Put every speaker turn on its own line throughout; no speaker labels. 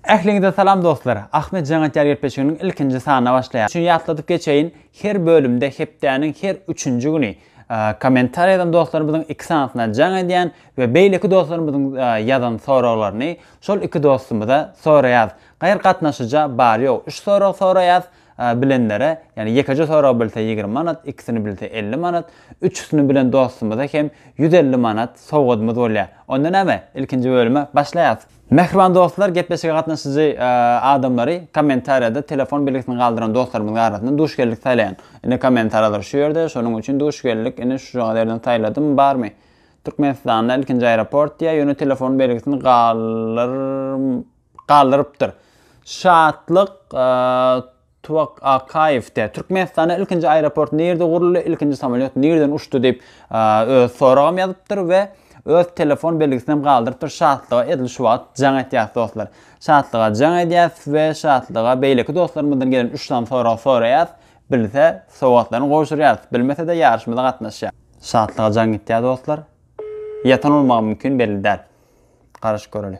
Ähliňize salam dostlar! Ahmet Janatýar gepleşiginiň ilkinji sanyna başlaýarys. Üçin ýatladyp geçeýin, her bölümde hepdäniň her üçünji güni kommentariýa ýazan dostlarymyzyň iki sanysyna jaň edýän we beýleki dostlarymyzyň ýazan soraglaryny şol iki dostumyza soraýarys. Gaýry gatnaşyja bar-ýok üç sorag soraýarys. Bilenlere, ýagny ýekeje sorag bilse ýigrimi manat, ikisini bilse elli manat, üçüsini bilen dostumyza hem ýüz elli manat sowgadymyz bolýar. Onda näme, ilkinji bölüme başlaýarys. Mähriban dostlar, gepleşige gatnaşyjy adamlary kommentariýada telefon belgisini galdyran dostlarymyzyň arasyndan duş geldik saýlaýan. Ine kommentariýalar şu ýerde, şonuň üçin duş geldik, ine şujaňyz ýerden saýladym, barmy? Türkmenistanda ilkinji aeroport diýýär, ýöne telefon belgisini galdyr. galdyrypdyr. Şatlyk Tuwakaýew de, Türkmenistanda ilkinji aeroport nirde guruldy, ilkinji samolýot nirden uçdy diýip öz soragam ýazypdyr we öz telefon belgisinem galdyrypdyr. Şatlyga edil şu wagt jaň etýäs dostlar. Şatlyga jaň edýäs we Şatlyga beýleki dostlarymyzdan gelen üç sany sorag soraýas. Bilse sowgatlaryny gowşurýas, bilmese-de ýaryşymyza gatnaşýar. Şatlyga jaň gitýär dostlar. Ýatan bolmagam mümkin belli däl. Garaşyp göreli.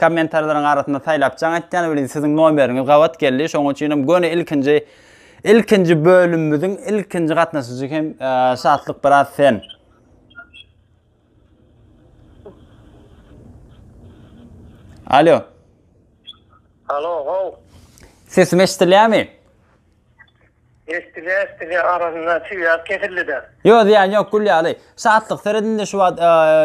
Kommentarlaryň arasynda saýlap jaň etýän welin siziň nomeriňiz gabat geldi şonuň üçinem göni ilkinji ilkinji bölümimiziň ilkinji gatnaşyjy hem Şatlyk biraz sen. Alo. Alo,
gow. Sesim
eşidilýärmi?
Eşdilýär, eşdilýär, arasynda çüýäp kesildi-de. Ýok, zyýany ýok, gül
ýaly. Şatlyk, seret indi şu wagt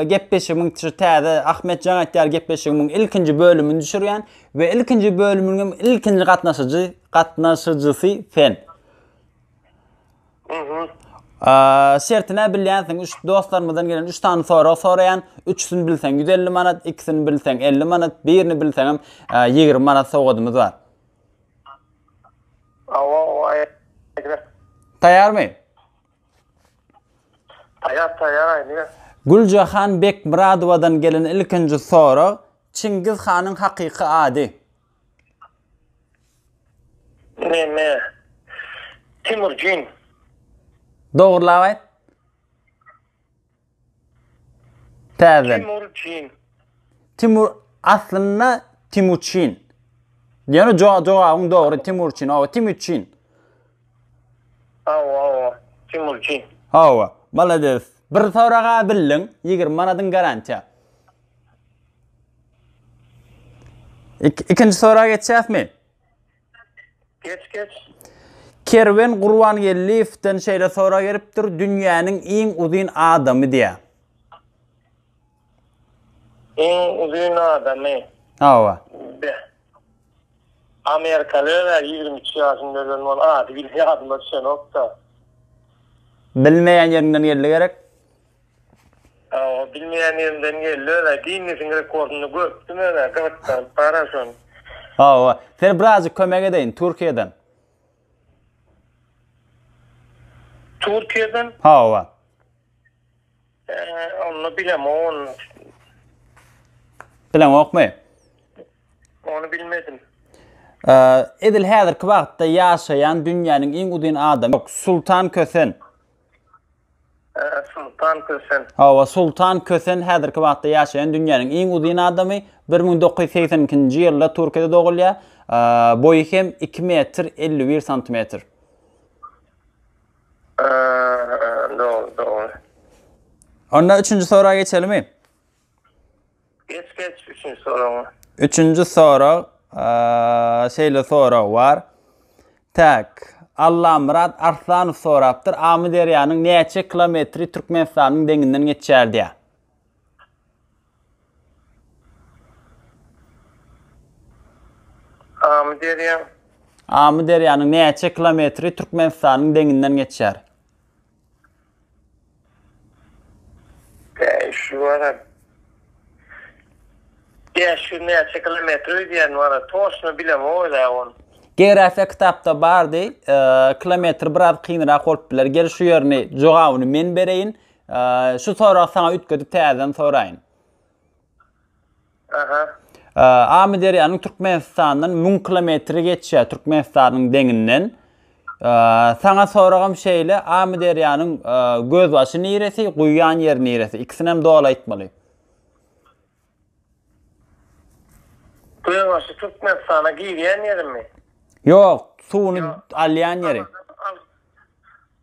gepleşigimiň şu täze Ahmetjan aýtýar gepleşigimiň ilkinji bölümini düşürýän we ilkinji bölüminiň hem ilkinji gatnaşyjy, gatnaşyjysy sen. Mhm. Şerti nä bilýänsiň, üç dostlarymyzdan gelen üç sany sorag soraýan, üçüsini bilseň ýüz elli manat, ikisini bilseň elli manat, birini bilseňem ýigrimi manat sowgadymyz bar. Awa, awa, aýdyber. Taýarmy?
Taýar, taýar, aýdyber. Güljahan
Bekmyradowadan gelen ilkinji sorag, Çingiz hanyň hakyky ady? Neme?
Timurjin.
Dogrulap aýt. Täzeden. Timur Cin. Timur aslynda Timuçin. Ýöne jogabyň dogry Timurçin. Hawa, Timuçin. Hawa, hawa.
Timurçin. Hawa,
malades. Bir soraga bildiň, 20 manadyň garantiýa. Ikinji soraga geçýäsmi? Geç
geç. Kerwen
Gurbangeldiýewden şeýle sorag gelipdir, dünýäniň iň uzyn adamy diýýär.
Iň uzyn adamy. Hawa. Be. Amerikaly öler ýigrimi üç ýaşynda ölen bol ady ýadyma düşenokda.
Bilmeýän ýeriňden geldi gerek. Aw
bilmeýän ýerimden geldi özä ginnesiň rekordyny görüpdim özä gyzykdanyp gara şony. Aw
sen birazjyk kömek edeýin Türkiýeden.
Türkiýeden? Hawa. Eee onda bilem on.
Bileňokmy? Ony
bilmedim.
Eee edil häzirki wagtda ýaşaýan dünýäniň iň uzyn adamy ýok Sultan Kösen.
Soltan Kösen. Hawa, Soltan Kösen
häzirki wagtda ýaşaýan dünýäniň iň uzyn adamy. Bir müň dokuz ýüz segsen ikinji ýylda Türkiýede dogulýar. Boýy hem iki metr elli bir santimetr.
Dogry, dogry. Onda
üçünji soraga geçelimi?
Geç geç üçünji soragyňa.
Üçünji sorag, şeýle sorag bar. Tak, Allamyrat Arslanow sorapdyr. Amyderýanyň näçe kilometri Türkmenistanyň deňinden geçýär diýär. Amyderýa. Amyderýanyň näçe kilometri Türkmenistanyň deňinden geçýär? Şu
wara Bäş ýüz näçe kilometr öýdýän wara toşna bilemogozä ony. Geografiýa
kitapda bardy. Kilometr biraz kynrak bolup biler. Gel şu ýerini jogabyny men bereýin. Şu soragy saňa üýtgedip täzeden soraýyn.
Amyderýanyň
Türkmenistandan müň kilometri geçýär, Türkmenistanyň deňinden. Saňa soragym şeýle, Amyderýanyň gözbaşy niresi, guýýan ýeri niresi? Ikisinem doly aýtmaly.
Gözbaşy Türkmenistana girýän ýerimi? Ýok,
suwuny alýan ýeri.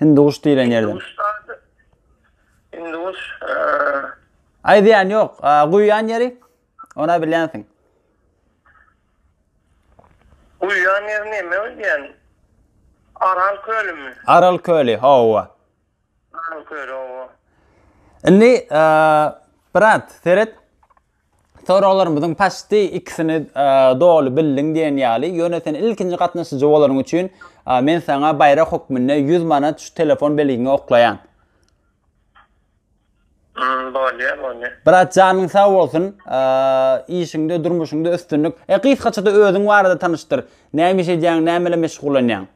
Hinduş diýlen ýerden.
Hinduş
zady. Hinduş. Aýdýan ýok. Guýýan ýeri. Ona bilýänsiň. Guýýan
ýeri näme diýýän? Aral kölümi? Aral köli,
hawa. Aral köli, hawa.
Indi,
brat, seret. Soraglarymyzyň paçti ikisini doly bildiň diýen ýaly, ýöne sen ilkinji gatnaşyjy bolanyň üçin men saňa baýrak hökmünde ýüz manat şu telefon belgiňe oklaýan.
Hmm, bolýa, bolýa. Brat janyň
sag bolsun, işiňde, durmuşyňda üstünlik. E, gysgaça-da özüň barada tanyşdyr. Näme iş edýäň, näme bilen meşgullanýaň?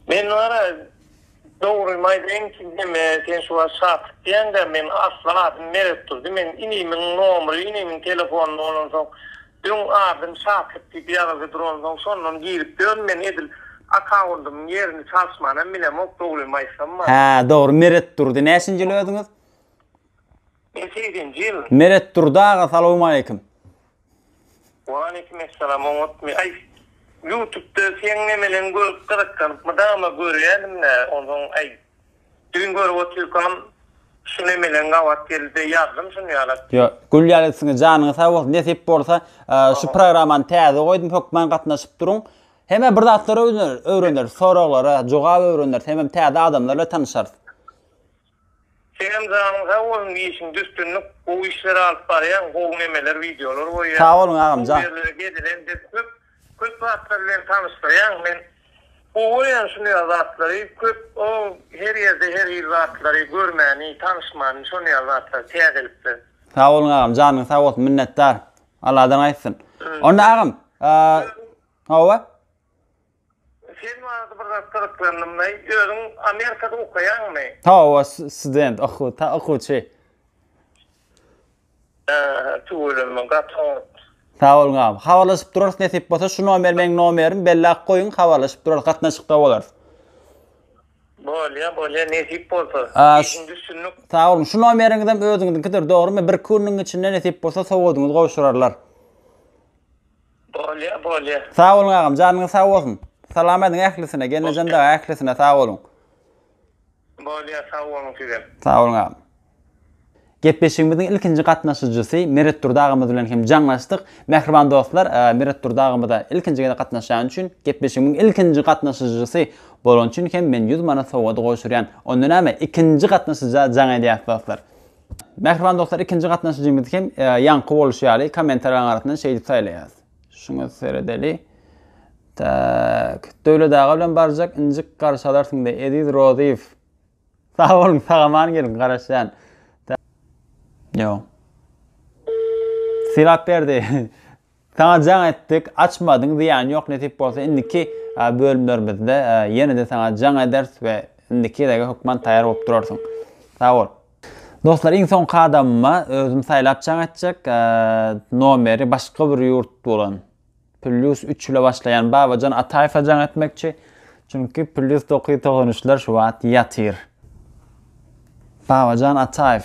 Men wara, dogrymy aýdaýyn, neme, sen şu wagt Şatyk diýýäň-dä, meň asly adym Meretdurdy, meň inimiň nomry, inimiň telefony bolansoň, öň adym Şatyk diýip ýazylgy duransoň, şondan girip ýörün, men edil akawundymyň ýerini çalyşmanam bilemok, dogrymy aýtsam wara. Hä, dogry,
Meretdurdy. Näçinji ýyl özüňiz? Nesihinji
ýyl? Meret Durdy aga
salowmaleýkim. Waleýkim essalam oňatmy
aý ýutubda seň nemeleň görüp gyzyklanyp mydama görýänimdä onsoň aý düýn görüp otyrkam şu nemeleň gabat geldide ýazdym şuny ýala. Ýo gül
ýaly isňe janyňyz sag bolsun nesip bolsa şu programany täze goýdum hökman gatnaşyp duruň hemem bir zatlar öwreneris soraglara jogap öwreneris hemem täze adamlar bilen tanyşarys.
Senem janyň sag bolsun işiňde üstünlik gowy işler alyp barýaň gowy nemeler wideolar goýýaň. Sag boluň agamjan. Bu
ýerlere gezilen biz köp
köp zatlar bilen tanyşdyrýaň men gowy görýän şunýar zatlary köp o her ýerde her hil zatlary görmäni tanyşmany şonýar zatlar täzelikler. Sag boluň agam
janyň sag bolsun minnetdar Alladan gaýtsyn onda agam hawa.
Sen barada bir zat gyzyklandym daýy, özüň Amerikada okaýaňmy? Hawa,
student, okuw, ta okuwçy. Ähä, tüweleme, gaty
oňat. Sag boluň agam.
Habarlaşyp durarys nesip bolsa, şu nomer meň nomerim, belläp goýuň, habarlaşyp durarys, gatnaşykda bolarys. Bolýa,
bolýa, nesip bolsa, işiňde üstünlik. Sag boluň, şu nomeriňizem
özüňiziňkidir, dogrymy, birki günüň içinde nesip bolsa, sowgadyňyzy gowşurarlar.
Bolýa bolýa. Sag boluň agam janyňyz
sag bolsun. Salam ediň ählisine Gelnejan daga ählisine sag boluň. Bolýa sag
boluň sizem. Sag boluň agam.
Gepleşigimiziň ilkinji gatnaşyjysy Meret Durdy agamyz bilen hem jaňlaşdyk. Mähriban dostlar Meret Durdy agamyza ilkinji gezek gatnaşýany üçin gepleşigimiň ilkinji gatnaşyjysy bolany üçin hem men ýüz manat sowgady gowşurýan. Onda näme ikinji gatnaşyja jaň edýäs dostlar. Mähriban dostlar ikinji gatnaşyjymyz hem ýaňky boluşy ýaly kommentariýalaryň arasyndan şeýdip saýlaýas. Şuňa seredeli. Tak, Döwlet aga bilen barjak injik garşy alarsyňda Eziz Rozyýew. Sag boluň, sagaman geliň, garaşýan. Ýok. Sylap berdi. Saňa jaň etdik, açmadyň, zyýany ýok, nesip bolsa indiki bölümlerimizde ýene-de saňa jaň ederis we indiki gezege hökman taýýar bolup durarsyň. Sag bol. Dostlar iň soňky adamyma özüm saýlap jaň etjek nomeri başga bir ýurt bolan plýus üç ile başlaýan Babajan Ataýewe jaň etmekçi. Çünki plýus dokuz ýüz togsan üçler şu wagt ýatyr. Babajan Ataýew.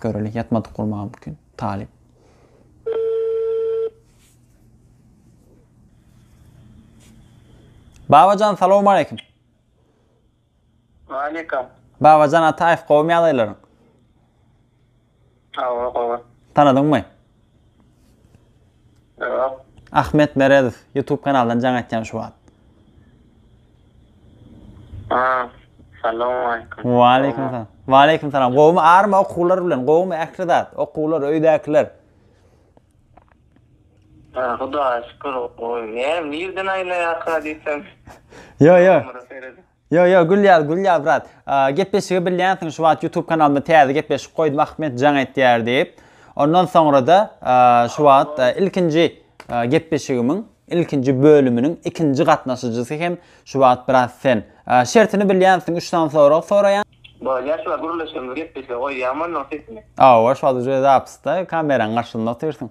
Göreli ýatmadyk bolmagy mümkin. Talyp. Babajan salam aleyküm. Aleyküm.
Babajan Ataýew
gowmy ýagdaýlaryň? Hawa,
hawa. Tanadyňmy?
Ýok.
Ahmet Meredow
YouTube kanalyndan jaň etýän şu wagt. Ha, salam
aýkym. Waleýkim salam.
Waleýkim salam. Gowmy army okuwlar bilen? Gowmy ähli zat? Okuwlar, öýdäkiler.
Ha, Hudaýa şükür, gowy. Ne, nirden aýlaýarka diýsem. Ýok, ýok.
Ýo ýo gülýäs gülýäs brat gepleşigi bilýänsiň şu wagt ýutub kanalyma täze gepleşik goýdum Ahmet jaň etýär diýip ondan soňrada şu wagt ilkinji gepleşigimiň ilkinji bölüminiň ikinji gatnaşyjysy hem şu wagt brat sen şertini bilýänsiň üç sany sorag soraýan. Bolýar şu wagt
gürleşgimiz gepleşige goýýaňmy onnoň sesini. Hawa şu wagt uje
zapysda kameraň garşysynda otyrsyň.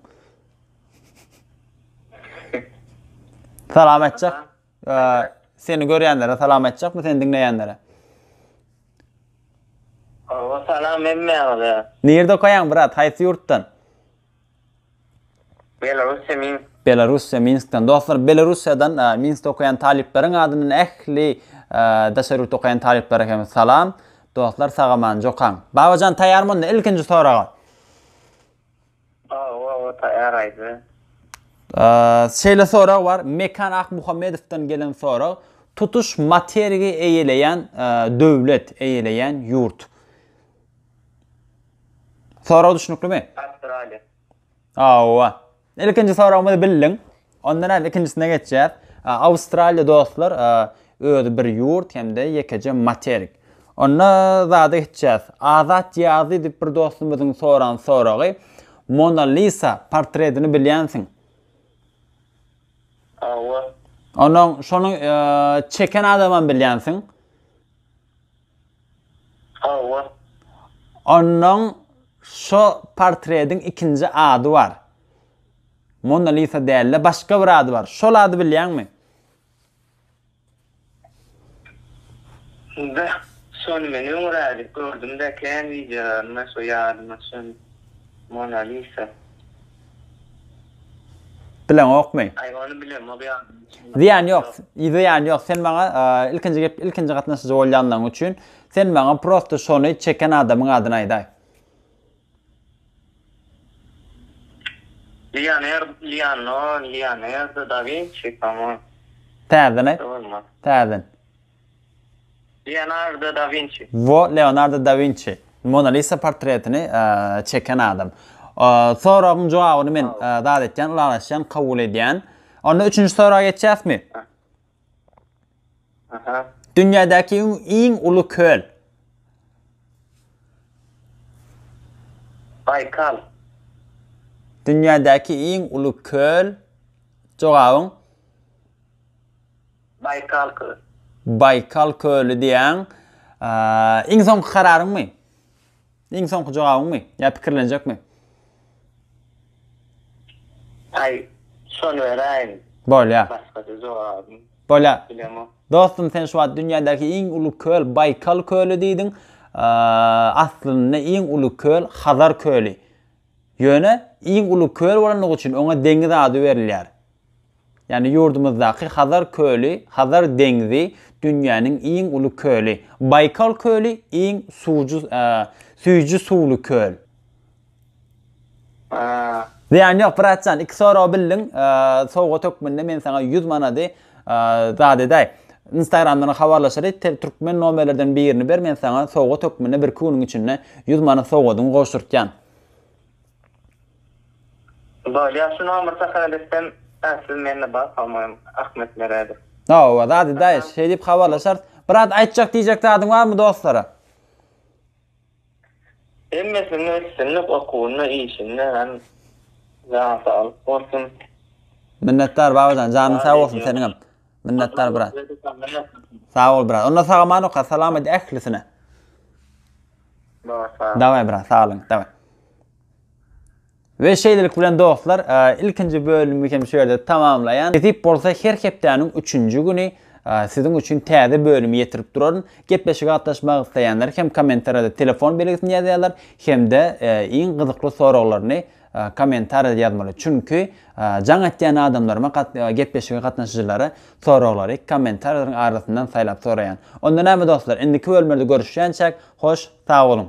Salam aýtjak. Seni görýänlere salam aýtjakmy seni diňleýänlere? Owa
salam hemmäňize. Nirde okaýaň
brat haýsy ýurtdan? Belarusýa Minsk. Belarusýa Minskden. Dostlar Belarusýadan Minskde okaýan talyplaryň adyndan ähli daşary ýurtda okaýan talyplara hem salam. Dostlar sagaman jokaň. Babajan taýarmy onda ilkinji soraga?
Hawa we taýýar aýdy.
Şeýle sorag bar, Mekan Akmuhammedowdan gelen sorag, tutuş materigi eýeleýän döwlet, eýeleýän ýurt. Sorag düşnüklimi? Awstraliýa.
Hawa. Ilkinji
soragymyzy bildiň. Ondan aýry ikinjisine geçýäs. Awstraliýa dostlar özi bir ýurt hem-de ýekeje materik. Onda zada geçýäs. Azat Ýazy diýip bir dostumyzyň soran soragy, Mona Lisa portredini bilýänsiň? Hawa. Onuň şony çeken adamam bilýänsiň? Hawa. Onuň şo portrediň ikinji ady bar. Mona Lisa dälde başga bir ady bar. Şol ady bilýäňmi? Be, şony men öňrälik gördüm-dä kän wideolarynda şo ýadyma düşen Mona Lisa. Bileňokmy? Aý
ony
bilemok
ýadyma düşenok. Zyýany
ýok, zyýany ýok. Sen maňa ilkinji gep ilkinji gatnaşyjy bolýanlygyň üçin sen maňa prosta şony çeken adamyň adyny aýdaý.
Leonard, Liano, Leonardo
da
Winçi, kamo. Täzeden aýt. Bolmaz. Täzeden. Leonardo da
Winçi. Wo, Leonardo da Winçi. Mona Lisa portretini çeken adam. Soragyň jogabyny men zat etýän, ylalaşýan, kabul edýän. Onda üçünji soraga geçýäsmi? Dünýädäki iň uly köl.
Baýkal. Dünýädäki
iň uly köl. Jogabyň.
Baýkal köl. Baýkal
köli diýýäň. Iň soňky kararyňmy? Iň soňky jogabyňmy? Ýa pikirlenjekmi?
Aý, şony beräýiň. Bolýa. Başga-da
jogabym.
Bolýa. Bilemok.
Dostum
sen şu wagt
dünýädäki iň uly köl Baýkal köli diýdiň. Aslynda iň uly köl Hazar köli. Ýöne iň uly köl bolandygy üçin oňa deňiz ady berilýär. Ýagny ýurdumyzdaky Hazar köli, Hazar deňzi dünýäniň iň uly köli. Baýkal köli iň suwjy süýji suwly köl. Zyýan ýok bratjan iki sorag bildiň sowgat hökmünde men saňa ýüz manady zat edäý. Instagramdan habarlaşaly türkmen nomerlerden birini ber men saňa sowgat hökmünde birki günüň içinde ýüz manat sowgadyňy gowşurtýan.
Bar ýagşy nomer takat etsem ähsiz mende bar pamoýym Ahmet Meredow. Hawa zady
daýyş şeý diýip habarlaşarys. Brat aýtjak diýjek zadyň barmy dostlara.
Hemmesinde üstünlik okuwynda işinde hem jana saglyk bolsun. Minnetdar
babajan janyň sag bolsun seniňem minnetdar brat. Sag bol brat. Onda sag aman oka salam aýt ählisine. Daway brat saglygyňyz daway. Ve şeýlelik bilen dostlar, e, ilkinji bölümimiz hem şu ýerde tamamlaýan. Nesip bolsa her hepdäniň 3-nji güni e, siziň üçin täze bölümi ýetirip duraryn. Gepleşige gatnaşmak isleýänler hem kommentariýada telefon belgisini ýazýarlar hem-de e, iň gyzykly soraglaryny Kommentariýa ýazmaly çünki jaň etýän adamlaryma gepleşige gatnaşyjylara soraglary kommentariýalaryň arasyndan saýlap soraýan. Onda näme dostlar indiki bölümlerde görüşýänçäk hoş sag boluň.